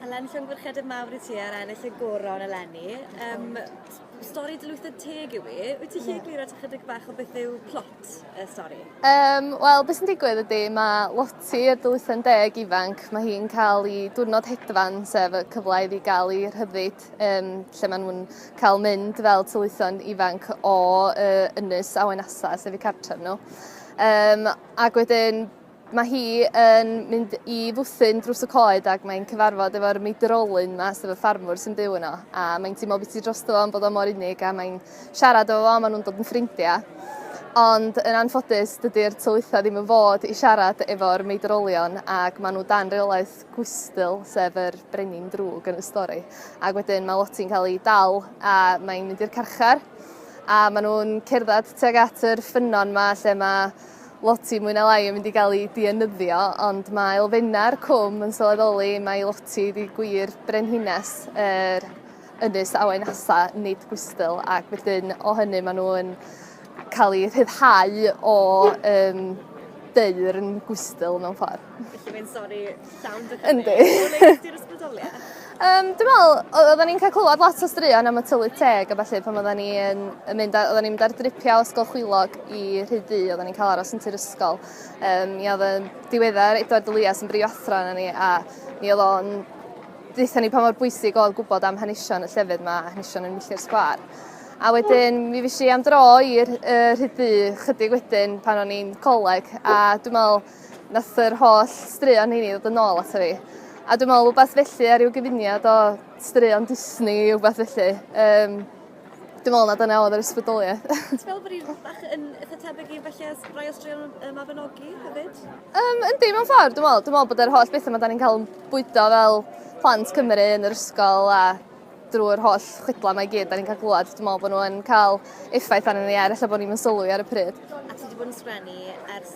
Eleni llongyfarchiadau mawr i ti ar ennill y goron eleni. Yym stori dlwytho teg yw i. Wyt ti lle egluro ti chydig bach o beth yw plot y stori? Um, Wel, beth sy'n digwydd ydy, mae Lottie, y dylwytho'n deg ifanc, mae hi'n cael ei diwrnod hedfan, sef y cyfle iddi gael ei rhyddid, um, lle maen nhw'n cael mynd fel tylwytho'n ifanc o uh, ynys awen asa, sef eu cartref nhw. Um, ac wedyn, Mae hi yn mynd i fwthyn drws y coed ac mae'n cyfarfod efo'r meidrolyn yma, sef y ffarmwr sy'n byw yno. A mae'n teimlo bwyty drosto fo am bod o mor unig a mae'n siarad efo fo a maen nhw'n dod yn ffrindiau. Ond yn anffodus, dydy'r tylwythau ddim yn fod i siarad efo'r meidrolion ac maen nhw dan reolaeth Gwystyl, sef yr brenin drwg yn y stori. Ac wedyn mae Loti'n cael ei dal a mae'n mynd i'r carchar a maen nhw'n cerdded tuag at yr ffynnon yma lle mae Loti mwy na lai yn mynd i gael ei dienyddio, ond mae elfennau'r cwm yn sylweddoli mai Loti ydi gwir brenhines yr ynys awen nasa, nid Gwystyl, ac wedyn o hynny maen nhw'n cael eu rhyddhau o um, deyrn Gwystyl mewn ffordd. Felly mae'n sori Sounds a Yndi. Di'r ysbrydoliaeth? Um, dwi'n meddwl, oedden ni'n cael clywed lot o straeon am y tylu teg a falle pan oedden ni'n mynd, oedden ni'n mynd ar dripiau ysgol chwilog i rhyd ddu, oedden ni'n cael aros yn tir ysgol. Um, mi oedd yn diweddar Edward Elias yn brif athro yna ni a mi oedd o'n ddeitha ni pa mor bwysig oedd gwybod am hanesion y llefydd yma, hanesion yn Milltir Sgwar. A wedyn mi fes i am dro i'r uh, rhyd ddu chydig wedyn pan o'n i'n coleg a dwi'n meddwl Nath yr holl straeon heini ddod yn ôl ato fi. A dwi'n meddwl rhywbeth felly ar ryw gyfuniad o straeon Disney i rhywbeth felly. Um, dwi'n meddwl na dyna oedd yr ysbrydoliaeth. Ti'n meddwl bod hi'n bach yn eitha tebyg i felly as rai o straeon y Mabinogi hefyd? Um, yndi, mewn ffordd, dwi'n meddwl. Dwi'n meddwl bod yr holl bethau mae da ni'n cael yn bwydo fel plant Cymru yn yr ysgol a drwy'r holl chwydla mae gyd da ni'n cael glwad, dwi'n meddwl bod nhw'n cael effaith arnyn ni er efallai bod ni'n sylwi ar y pryd. A ti wedi bod yn sgrennu ers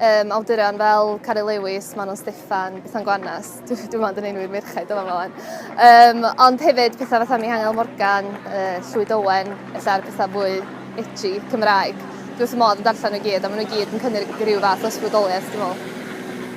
Um, awduron fel Cari Lewis, Manon Steffan, Bethan Gwanas, dwi'n dwi meddwl yn ein wir merched dyma flaen. Um, ond hefyd pethau fatha Mihangel Morgan, uh, Llwyd Owen, efallai'r pethau fwy edgy Cymraeg. Dwi'n wrth y modd yn darllen nhw gyd, a maen nhw gyd yn cynnig rhyw fath o ysbrydoliaeth, dwi'n meddwl.